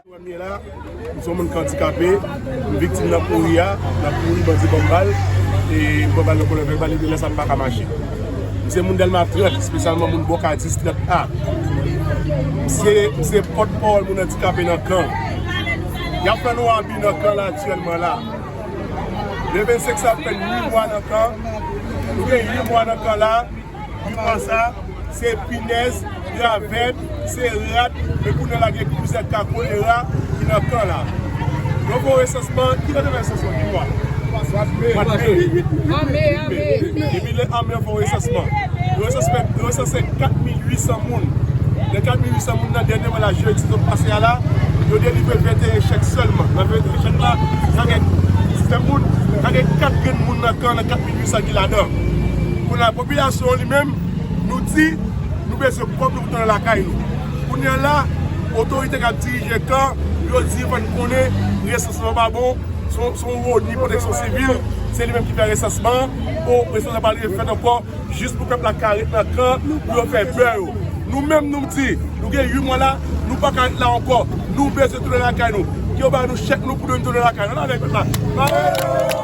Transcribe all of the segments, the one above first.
Mwen la, m son moun kandikape, m viktim nan kouri a, nan kouri bandi banm bal, e m pran bal nan kolòn, fèk bal rive lè sa m paka mache. M se moun Dèlma 30, espesyalman moun Bòka 10, 30 A. M se, m se pòt pawòl moun andikape nan kan. Y ap fè nou abi nan kan la aktyèlman la. Le 25 sa ap fè 8 mwa nan kan, nou gen 8 mwa nan kan la. Divan sa se pinèz, ravèt, se rat e kounye la gen kouzèt ka kolera ki nan kan la. Yo fè yon resansman, ki lè yo te fè resansman? Ki mwa? Mwad me, 8 me, epi lè ame yo fè yon resansman. Yo resanse 4800 moun. Nan 4800 moun nan dènyèman la, jedi sot pase a la, yo delivre 21 chèk sèlman. Nan 21 chèk la, ka gen 19 moun, ka gen 4 grenn moun nan kan nan 4800 ki ladan. Kounye a popilasyon an li menm nou di nou bezwen pwòp nou pou tounen lakay nou. Kounye a la, otorite k ap dirije kan yo di fè n konnen resansman pa bon, se yon oni pwoteksyon sivil, se li menm ki fè resansman an, pou resansman pa rive fèt ankò, jis pou pèp la ka ret nan kan pou yo fè bè yo. Nou menm nou di nou gen 8 mwa la, nou pa ka ret la ankò, nou bezwen tounen lakay nou. Ke yo ba nou chèk nou pou nou tounen lakay nou. Ann ale pèp la! Mayo!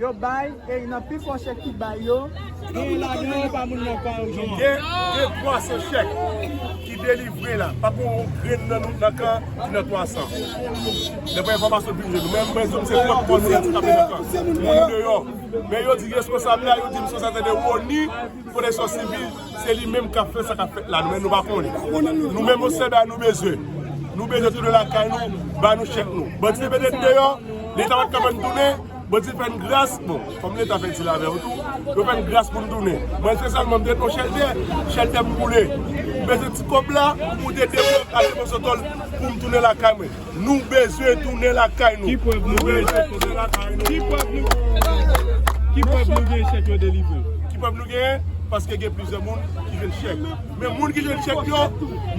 Yo bay e nan pi fò chèk ki bay yo, genyen ladan yo pa moun nan kan yo. Gen 300 chèk ki delivre la. Pa gen yon grenn nan nou nan kan ki nan 300. Daprè enfòmasyon ki rive nou. Men mwen di nou se kont moun yo ki tape nan kan. Moun deyò. Men yo di responsab la, yo di misye sa se de Rony, pwoteksyon sivil, se li menm kap fè sa kap fèt la. Nou menm nou pa konnen. Nou menm yon sèl bagay nou bezwen. Nou bezwen tounen lakay nou, ba nou chèk nou. Bandi te mete nou deyò, leta pat ka fè nou tounen. Bondye fè n gras, bon, kòm leta fè dil avè w tou, yo fè n gras pou n tounen. Mwen se sèlman m te pran chèlbè, chèlbè m boule. M bezwen ti kòb la pou te depo m ale Bosòtòl pou m tounen lakay mwen. Nou bezwen tounen lakay nou. Nou bezwen tounen lakay nou. Ki prèv nou genyen chèk yo delivre? Ki prèv nou genyen? Paske gen plizyè moun ki jwenn chèk. Men moun ki jwenn chèk yo,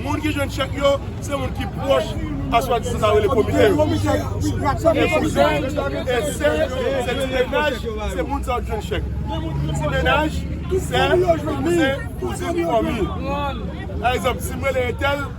moun ki jwenn chèk yo, se moun ki pwòch a swa disan sa yo rele komise yo. E kouzen, e sè, se ti mennaj, se moun sa yo ki jwenn chèk. Ti mennaj, sè, kouzen, kouzin, fanmi. Pa egzanp, si m rele entèl.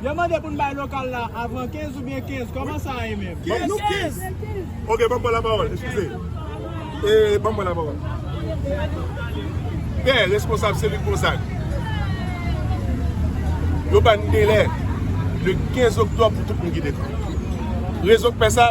Yo mande pou n bay lokal la avan 15 oubyen 15, kòman sa ye menm? Banm nou 15! Ok banm pran la pawòl, eskize. E banm pran la pawòl. Pè responsab selil Gonzag, yo ba n delè le 15 oktòb pou tout moun kite kan. Rezon k pè sa.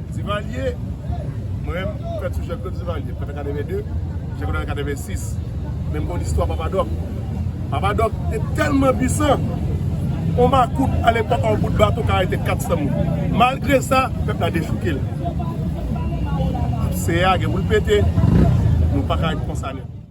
Divalye, mwen menm m fèt sou Jean-Claude Divalye, m fèt an 82, Jean-Claude an 86. Men m konn istwa Papa Doc. Papa Doc te tèlman pwisan, yon makout alepòk yon bout bato ka arete 400 moun. Malgre sa, pèp la dechouke l. Apse a gen pou l pete, nou pa ka ret konsa nèt.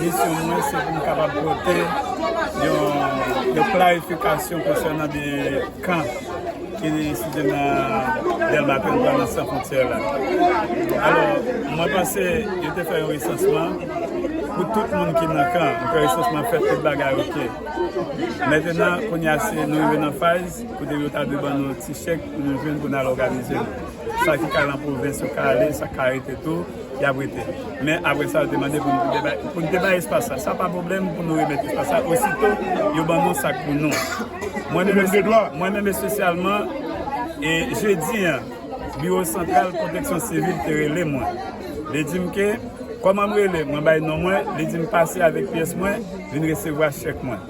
Misyon mwen se pou m kapab pote yon klarifikasyon konsènan de kan ki site nan Dèlma ke nou pran nan San Fontyè la. Alò, mwen panse yo te fè yon resansman pou tout moun ki nan kan. Yo fè resansman, fè tout bagay ok. Mentenan, kounye a se nou rive nan faz kote yo ta dwe ban nou ti chèk pou nou jwenn pou nou al òganize nou. Sa ki ka nan pwovens yo ka ale, sa ka rete tou. y ap rete. Men apre sa yo te mande pou nou te bay espas la. Sa pa pwoblèm pou nou remèt espas la ositou yo ban nou sak pou nou. Mwen menm espesyalman, e jedi an, biwo santral pwoteksyon sivil te rele mwen. Li di m ke, kòman m rele? Mwen bay non mwen, li di m pase avèk pyès mwen, vin resevwa chèk mwen.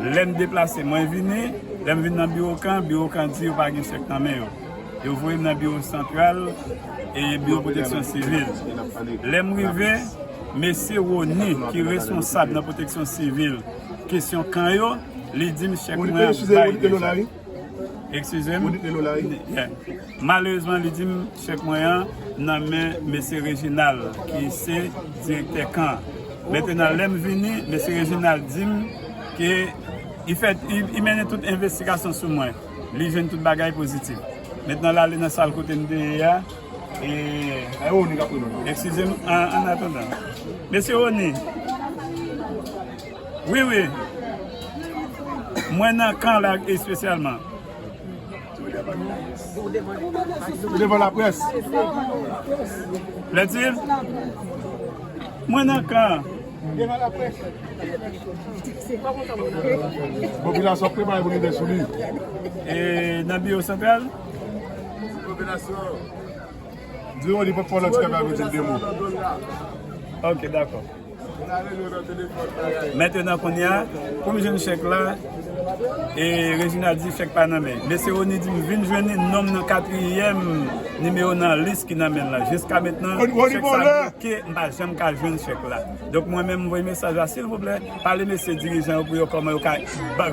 Lè m deplase, mwen vini, lè m vin nan biwo kan, biwo kan di yo pa gen chèk nan men yo. Yo voye m nan biwo santral e biwo pwoteksyon sivil. Lè m rive, mesye Rony ki responsab nan pwoteksyon sivil kesyon kan yo, li di m chèk mwen ap bay deja. Eskize m? Malerezman li di m chèk mwen an nan men mesye Reginald ki se direktè kan an. Mentenan lè m vini, mesye Reginald di m ke li fè, li mennen tout envestigasyon sou mwen. Li jwenn tout bagay pozitif. Met nan lale nan sal kote n te ye a e. Ay Oni kap reponn nou. Eskize m an atandan. Mesye Oni. Wi wi. Mwen nan kan la espesyalman. Ou devan la pres. Plaintive. Mwen nan kan. Devan la pres. Popilasyon ap prepare pou rive sou li. E nan biwo santral? Popilasyon. Di yo li pap fè lòt kèm avèk de mo. Ok, dakò. Mètenan kounya, pou m jwenn chèk la, e Reginald di chèk pa nan men. Mesye Rony di m vin jwenn li, non m nan katriyèm nimewo nan lis ki nan men l la. Jiska mentnan, chèk sa bloke, m pa janm ka jwenn chèk la. Donk mwen menm m voye mesaj la, silvouplè. Pale mesye dirijan yo pou yo koman yo ka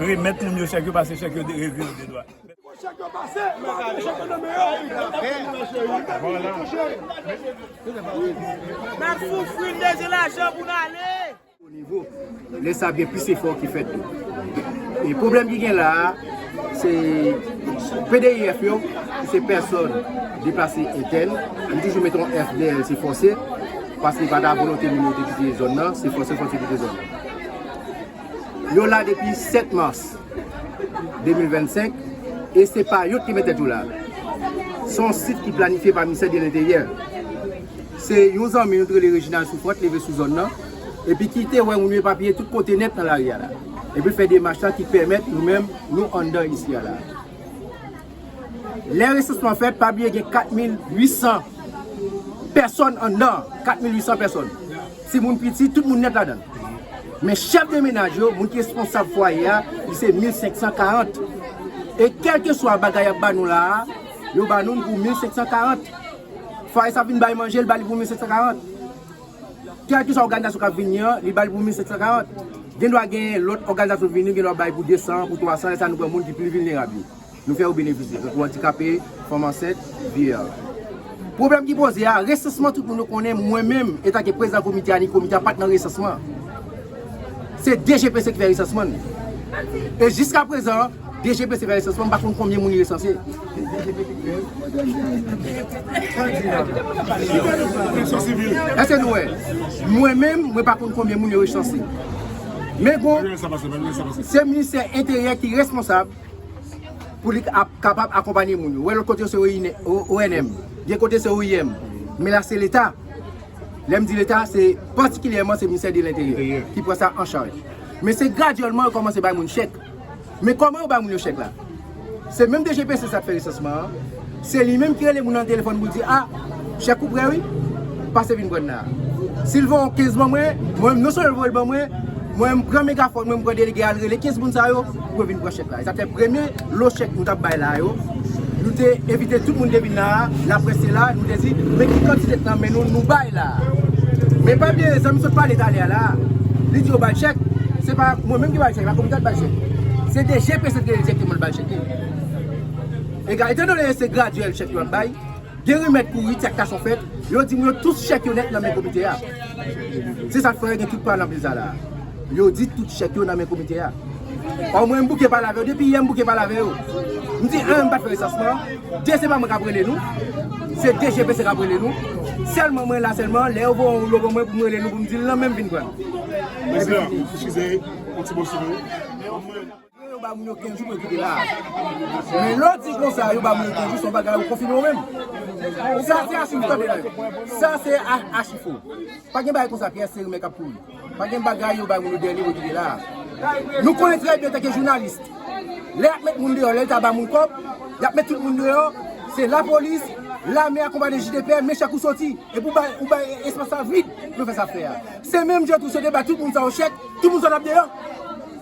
remet moun yo chek yo pase chek yo derevi yo de dwa. Pou chek yo pase pa antre chek yo nan men yo. Nap soufri n bezwen lajan pou n ale. Bon nivo. Le sa ap gen plis efo ki fet tou. E pwoblem ki gen la a se PDF yo ki se person deplase etèn. M toujou met on F dèyè l se fose. Paske pa ta volonte moun yo te kite zòn nan, se fòse fòse kite zòn nan. Yo la depi 7 mas 2025 e se pa yo ki met tèt yo la. Se yon sit ki planifye pa Ministè de Lenteryè. Se yon zanmi nou ki rele Reginald Souffrant ki leve sou zòn nan epi ki te wè moun yo epapiye tout kote nèt nan lari a la. Epi l fè demach la ki pèmèt nou menm nou anndan isi a la. Lè resansman fèt, pa bliye gen 4800 pèsòn anndan an. 4800 pèsòn. Timoun piti, tout moun nèt ladan l. Men chèf de menaj yo, moun ki responsab fwaye a, li se 1540. E kèlkeswa bagay y ap ba nou la a, yo ba nou l pou 1540. Fwaye sa ap vin bay manje, l ba li pou 1540. Kèlkeswa òganizasyon k ap vini an, li ba li pou 1540. Gendwa gen lòt òganizasyon vini, yo gendwa bay pou 200, pou 300, lè sa a nou pran moun ki pi vilnerab yo. Nou fè ou benefisye, tankou andikape, fanm ansent, vieya. Pwoblèm ki poze a, resansman tout moun yo konnen mwen menm etanke prezidan komite a ni komite a pat nan resansman an. Se DGPC ki fè resansman n. E jiska prezan, DGPC fè resansman m pa konn konbyen moun li resanse. Èske nou wè? Mwen menm, mwen pa konn konbyen moun yo resanse. Men gon, se ministè enteryè ki responsab. pou li kapab akonpanye moun yo. Wè lòt kote yo se ONM, gen kote se OIM, men la se leta. Lè m di leta, se patikilyèman se Ministè de Lenteryè ki pran sa an chaj. Men se gradyèlman yo kòmanse bay moun chèk. Men kòman yo bay moun yo chèk la? Se menm DGPC sa k fè resansman an. Se li menm ki rele moun nan telefòn pou di a, chèk ou prè wi, pase vin pran nan. Si l voye yon 15 ban mwen, mwen menm non sèlman l voye l ban mwen, mwen menm m pran megafòn mwen, m pran delege a, l rele 15 moun sa yo pou yo vin pran chèk la. E sa fè premye lo chèk nou t ap bay la yo, nou te envite tout moun ki te vin la a, laprès te la, nou te di men ki kantite k nan men nou nou bay la a. Men pa bliye zanmi m sot pale talè a la a, li di yo ba l chèk, se pa mwen menm ki ba l chèk la, komite a ki ba l chèk. Se DG Presèt ki rele direkteman l ba l chèk li. Ega, etan done se gradyèl chèk yo ap bay, gen remèd pou rit, si aktasyon fèt, yo di moun yo tout chèk yo nèt nan men komite a. Se sa k fè gen tout pwa nan pil sa la a. Yo di tout chèk yo nan men komite a. Ò mwen m bouke pale avè yo, depi yè m bouke pale avè yo. M di 1 m pa t fè resansman an, 2 se pa mwen k ap rele nou, se DGPC k ap rele nou. Sèlman mwen la sèlman, lè yo voye yon woulo ban mwen pou m rele nou pou m di l nan men m vin pran l. Epi fini. Yo yo ba moun yo 15 jou pou yo kite la a. Men lè w di konsa yo ba moun yo 15 jou se yon bagay ou konfime ou menm. Sa se achiv tande nan yo. Sa se achiv fo. Pa gen bagay konsa pyè se rimè k ap kouri. Pa gen bagay yo ba moun yo dènye pou yo kite la a. Nou konnen trè byen antanke jounalis lè y ap met moun deyò lè leta ba moun kòb y ap met tout moun deyò se lapolis, lame akonpaye de JDP men chèk ou soti epi ou bay espas la vid pou yo fè sa y ap fè a. Se menm jan tou si yo te bay tout moun sa yo chèk tout moun sa yo t ap deyò.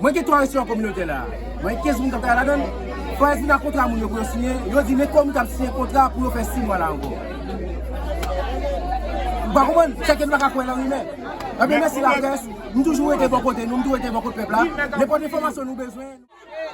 Mwen gen 3 restaurant communautaire la. Mwen gen 15 moun kap travay ladann. Fòyas vin ak kontra moun yo pou yo siyen. Yo di nenpòt moun kap siyen kontra pou yo fè 6 mwa la ankò. Ou pa konprann? Sa ke nou paka kwè lan rimè. Ebyen mèsi laprès. Nou toujou rete bò kote nou, nou toujou rete bò kote pèp la. Nenpòt enfòmasyon nou bezwen.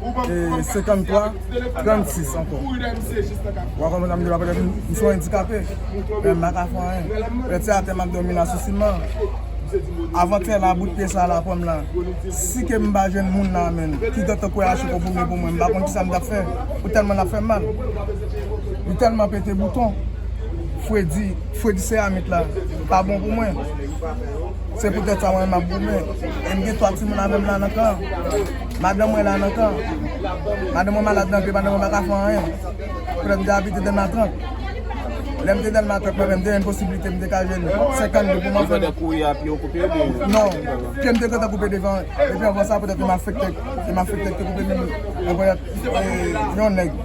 53 36 ankò wa konprann sa m di la petèt m son endikape men m pa ka fè anyen petèt se atè m ap dòmi la sou siman avan tè la bout pye sa la pou m la si ke m pa jwenn moun nan men l ki te kwè a se te goumen pou mwen m pa konn kisa m t ap fè pou tèlman l ap fè m mal li tèlman pete bouton fredi fredi seramik la pa bon pou mwen se poutèt sa mwen m ap goumen e m gen 3 timoun avè m la nan kan an. Madanm mwen la nan kan an. Madanm mwen malad nan pye, madanm mwen pa ka fè anyen. Frè m te abite Dèlma 30. Lè m te Dèlma 30 mwen menm, te gen posiblite m te ka jwenn 50 goud pou m antre nan. Non, pye m te gentan koupe devan. Epi anvan sa, petèt yon malfektè yon malfektè ki te koupe pye m. Epi petèt yon nèg,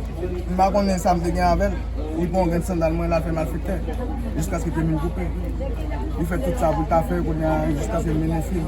m pa konnen sa m te gen avè l, li pran yon grenn sandal mwen l al fè malfektè jiskaske pye m vin koupe. Li fè tout sa pou l ta fè, kounye a jiskaske m mennen fi l.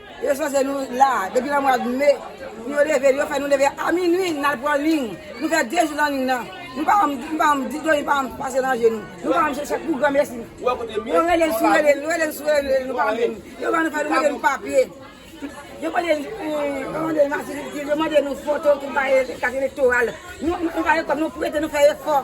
Yo chwazi nou la depi nan mwad me pou yo leve yo fè nou leve a minwi nal pran ling nou fè 2 jou nan ling nan nou pa janm nou pa janm di dlo nou pa janm pase nan je nou nou pa janm chèche ak pou gran mesi nou rele nou sou rele nou rele nou sou rele nou pa mande nou yo ban nou fè nou mete nou papye yo mande yo mande nou matirikil yo mande nou foto tout bagay kat elektoral nou pa gen kòb nou prete nou fè efò.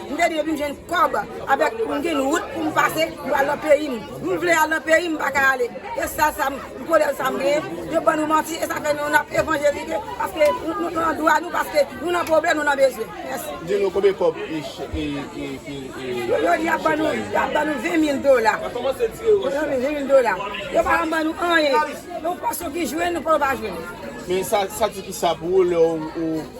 M te di depi m jwenn kòb avèk m gen wout pou m pase m pral nan peyi m. M vle al nan peyi m m pa ka ale. E sal sa m kolè sa m genyen yo ban nou manti e sa fè nou nap evanjelike paske nou nan dwa nou paske nou nan pwoblèm nou nan bezwen. Mèsi. Di nou konbyen kòb e chèk. Yo di yap ban nou yap ban nou 20 mil dola. Yo ban nou 20 mil dola. Yo pa janm ban nou anyen. Yon pòs yo ki jwenn yon pòs yo pa jwenn. Men sa di kisa pou ou lè ou.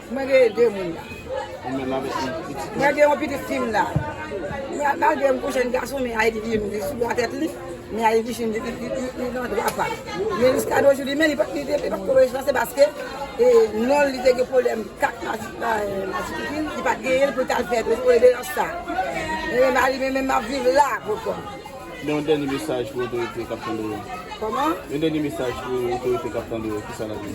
Mwen gen 2 moun la. Mwen gen yon pitit fi m la. Malgre m kou jèn gason men Ayiti vye m li sou dwa tèt li. Men Ayiti vye m li li nan dwa pa l. Men jiska de ojoujou men li pat ko rejwen sa se paske non li te gen pwoblèm kat masifiki li pat genyen l pou l ta fè reveryans sa. Men mari men menm ap viv la pou l konn. Men yon dènye mesaj pou otorite k ap tande w yo. Kòman? Yon dènye mesaj pou otorite k ap tande w yo, ki sa l ap di?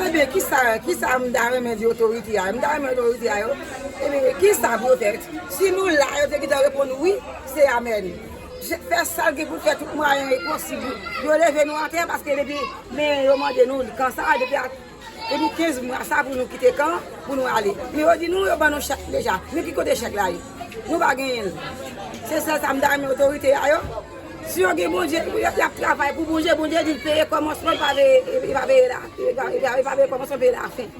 Ebyen, ki sa, ki sa m ta renmen di otorite a? M ta renmen otorite a yo, ebyen, ki sa pou yo fè? Si nou la, yo te gentan reponn wi, se amèn. Je, fè sa l gen pou l fè, tout mwayen posib. Yo leve nou atè, paske depi, men yo mande nou, kan sa, depi a. Epi 15 mwa sa pou nou kite kan pou nou ale. Men yo di nou yo ban nou chèk deja. Men ki kote chèk la ye? Nou pa genyen l. Se sèl sa m ta renmen otorite a yo, si yo gen Bondye, y ap travay pou Bondye, Bondye di l peye kòmansman, li pa peye lafen, kòmansman peye lafen.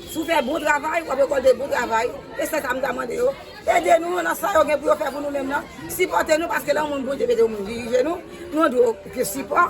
Si w fè bon travay, w ap rekòlte bon travay. Se sèl sa m ta mande yo. Ede nou nan sa yo gen pou yo fè pou nou menm nan. Sipòte nou paske lè yon moun Bondye mete yon moun dirije nou, nou dwe gen sipò.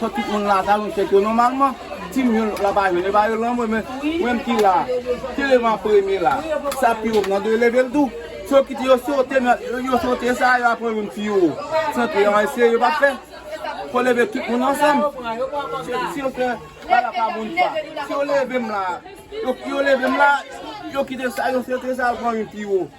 Fòk tout moun la ta jwenn chèk yo nòmalman. Ti moun yo la pa jwenn, yo ba yo lan mwen men, mwen menm ki la, te leve an premye la, sa pi wòm nan dwe leve l tou. Si yo kite yo sote nan, yo sote sa a, yo ap pran youn pi wo. San ke yon eseye yo pa fè. Fò leve tout moun ansanm. Si yo fè, pa la pa moun pa. Si yo leve m la, yo leve m la, yo kite sa, yo sote sa a, yo pran youn pi wo.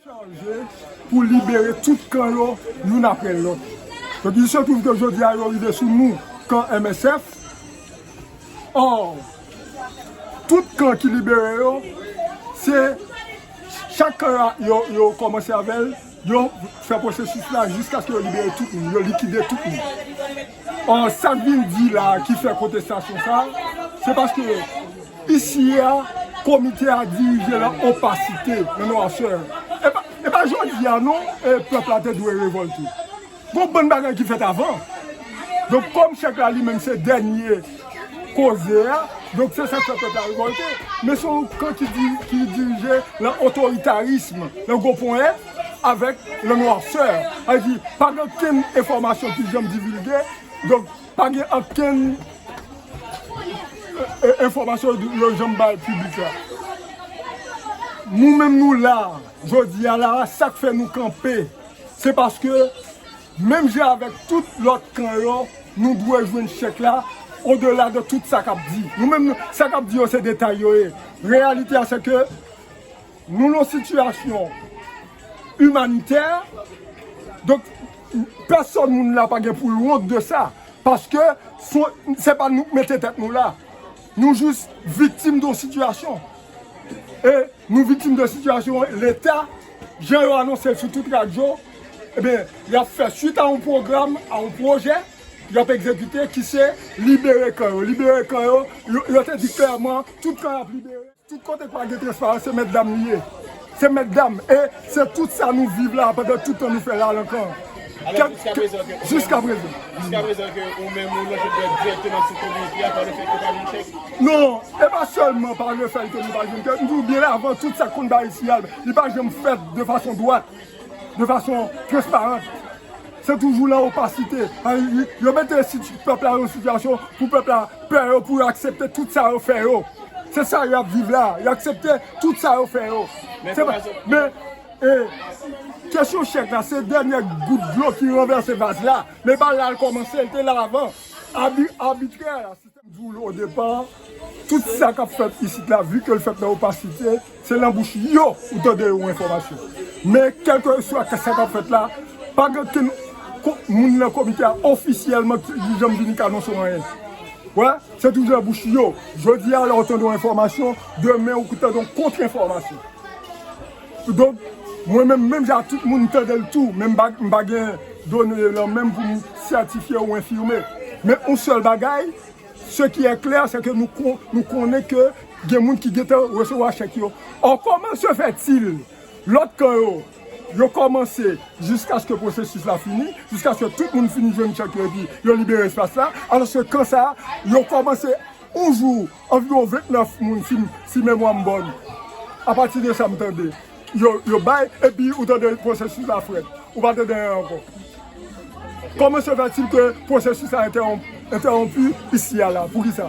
Chanje pou libere tout kan yo youn aprè lòt. Donk il se trouve ke jodi a yo rive sou nou kan MSF. Or, tout kan ki libere yo, se chak kan yo kòmanse avè l, yo fè pwosesis la jiskaske yo libere tout moun, yo likide tout moun. Or sak vin di la ki fè kontestasyon sa, se paske isi a komite a dirije lan opasite, lan nwasè. E pa jodi a non pèp la te dwe revolte. Gon bann bagay ki fèt avan. Donk kòm chèk la li menm se dènye koze a, donk se sak fè pèp la revolte. Men se yon kan ki dirije lan otoritarism, lan gwo ponyèt. avèk le noirceur, sa vle di pa gen okenn enfòmasyon ki janm divilge, donk pa gen okenn enfòmasyon yo janm bay piblik la. Nou menm nou la a, jodi a la a, sa k fè nou kanpe, se paske menm jan avèk tout lòt kan yo, nou dwe jwenn chèk la odela de tout sa k ap di. Nou menm, sa k ap di yo se detay yo ye, reyalite a se ke Nou nan sitiyasyon imanitè, donk pèsòn moun la pa gen pou l wont de sa, paske se pa nou ki mete tèt nou la, nou jis viktim don sitiyasyon, e nou viktim de sitiyasyon leta, jan yo anonse l sou tout radyo, eben y ap fè suit a yon pwogram, a yon pwojè, y ap egzekite ki se libere kan yo, libere kan yo, yo te di klèman tout kan y ap libere. Tout kote ki pa gen transparans se mètdam li ye. Se mètdam e se tout sa nou viv la pandan tout tan nou fè ralankan an. Alò jiska prezan ke Jiska prezan. Jiska prezan ke ou menm ou lonje dwèt dirèkteman sou kou bandi a pa le fèt ke ou pa jwenn chèk? Non, e pa sèlman pa le fèt ke nou pa jwenn chèk, m di ou byen avan tout sa k konn bay siyal li pa janm fèt de fason dwat. de fason transparant, se toujou lan opasite, yo mete pèp la lan yon sitiyasyon pou pèp la pè yo pou yo aksepte tout sa yo fè yo, se sa yo ap viv la, yo aksepte tout sa yo fè yo, se pa, men, e, kesyon chèk la se dènyè gout dlo ki ranvèse vaz la, men bal la al kòmanse, li te la avan, abi, abitrè. Janm di w l o depa, tout sa kap fèt isit la vu ke l fèt nan opasite, se nan bouch yo ou tande yon enfòmasyon. Men kèlkeswa sa kap fèt la, pa gen okenn moun nan komite a ofisyèlman ki janm vini ka anonse w anyen. Ou wè, se toujou nan bouch yo. Jodi a lè w tande yon enfòmasyon, demen ou tande yon kontre enfòmasyon. Kidonk, mwen menm, menm jan ak tout moun, m tande l tou, men m pa gen done yo nan men m pou m sètifye ou enfime. Men yon sèl bagay, se ki è klè, se ke nou konnen ke gen moun ki gentan resevwa chèk yo. Ò, kòman se fè til lòt kan yo, yo kòmanse jiskaske pwosesis la fini, jiskaske tout moun fini jwenn chèk yo epi yo libere espas la, alòske kan sa a, yo kòmanse yon jou, Anviwon 29 moun si memwa m bòn apati de sa m tande yo bay epi ou tande pwosesis la frèt ou pa tande anyen ankò. Kòman se fè til ke pwosesis la entèwonpi isi a la? Poukisa?